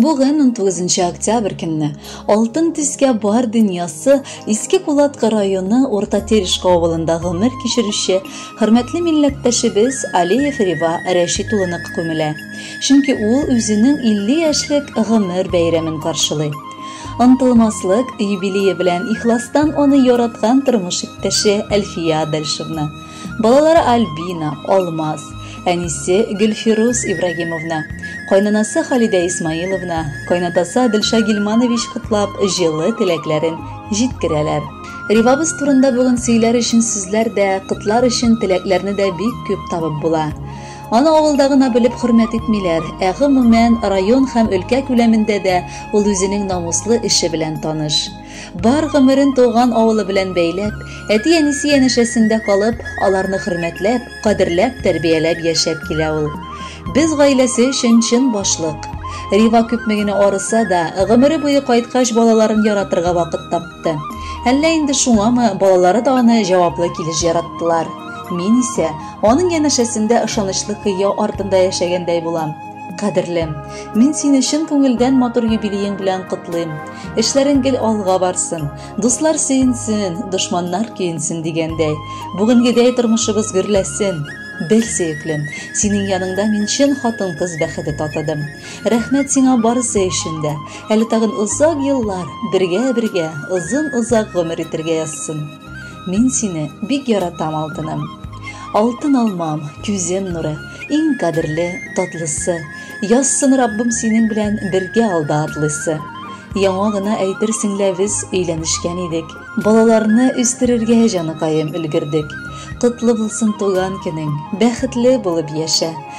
Бүген 19 октябрь көнне алтын төскә бар дөньясы Иске Кулатка районы Урта Терешка авылында гомер кичерүче хөрмәтле милләттәшебез Алиев Рива Рәшит улына күмелә. Чөнки ул үзенең 50 яшьлек гомер бәйрәмен каршылый. Онтылмаслык юбилее белән ихластан аны яраткан тормыш иптәше Әлфия Адальшевна, балалары Альбина, Алмаз, әнисе Гөлфирус Ибрагимовна, кайнанасы Халидә Исмаиловна, кайнатасы Адельша Гилманович котлап, җылы теләкләрен җиткерәләр. Ривабыз турында бүген сөйләр өчен сүзләр дә, котлар өчен теләкләрне дә бик күп табып була. Аны авылда гына белеп хөрмәт итмиләр, ә гомумән район һәм өлкә күләмендә дә ул үзенең намуслы эше белән таныш. Бар гомерен туган авылы белән бәйләп, әти-әнисе янәшәсендә калып, аларны хөрмәтләп, кадерләп тәрбияләп яшәп килә ул. Без гаиләсе өчен чын башлык. Рива күпме генә арыса да, гомере буе кайткач балаларын яратырга вакыт тапкан. кайтты. Әллә инде шуңамы, балалары да аны җаваплы килеш яраттылар. Мин исә аның янәшәсендә ышанычлы кыя артында яшәгәндәй булам. Кадерлем, мин сине чын күңелдән матур юбилеең белән котлыйм. Эшләрең гел алга барсын, дуслар сөенсен, дошманнар көенсен дигәндәй. Бүгенгедәй тормышыбыз гөрләсен. Бел, сөеклем, синең яныңда мин чын хатын-кыз бәхете татыдым. Рәхмәт сиңа барысы өчен дә. Әле тагын озак еллар бергә-бергә озын-озак гомер итергә язсын. Мин сине бик яратам, алтыным. Алтын алмам, күзем нуры, иң кадерле, татлысы. Язсын Раббым синең белән бергә алда атлыйсы. Яңа гына әйтерсең лә без өйләнешкән идек. Балаларны үстерергә җаныкаем өлгердек. Котлы булсын туган көнең. Бәхетле булып яшә.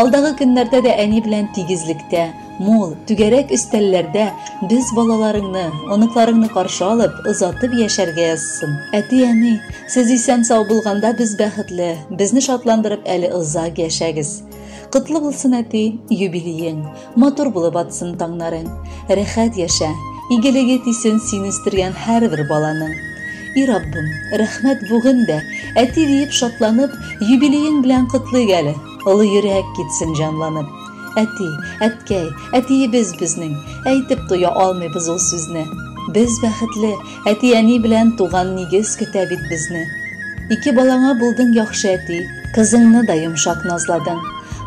Алдагы көннәрдә дә әни белән тигезлектә, мул, түгәрәк өстәлләрдә без балаларыңны, оныкларыңны каршы алып, озатып яшәргә язсын. Әти-әни, сез исән-сау булганда без бәхетле, безне шатландырып әле озак яшәгез. Котлы булсын, әти, юбилеең! матур булып атсын таңнарың. Рәхәт яшә, игелеге тисен син үстергән һәрбер баланың. И Раббым, рәхмәт бүген дә, әти диеп шатланып, юбилеең белән котлыйк әле. Олы йөрәк китсен җанланып. Әти, әткәй, әтиебез безнең, әйтеп туя алмыйбыз ул сүзне. Без бәхетле, Әти-әни белән туган нигез көтә бит безне. Ике балаңа булдың яхшы әти, кызыңны да йомшак назладың.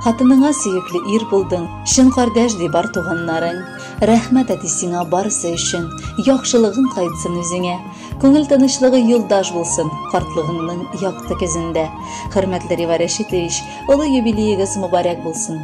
Хатыныңа сөекле ир булдың, чын кардәш ди бар туганнарың. Рәхмәт әти сиңа барысы өчен, яхшылыгың кайтсын үзеңә. Күңел тынычлыгы юлдаш булсын картлыгыңның якты көзендә. Хөрмәтле Рива Рәшитович, олы юбилеегыз мөбарәк булсын.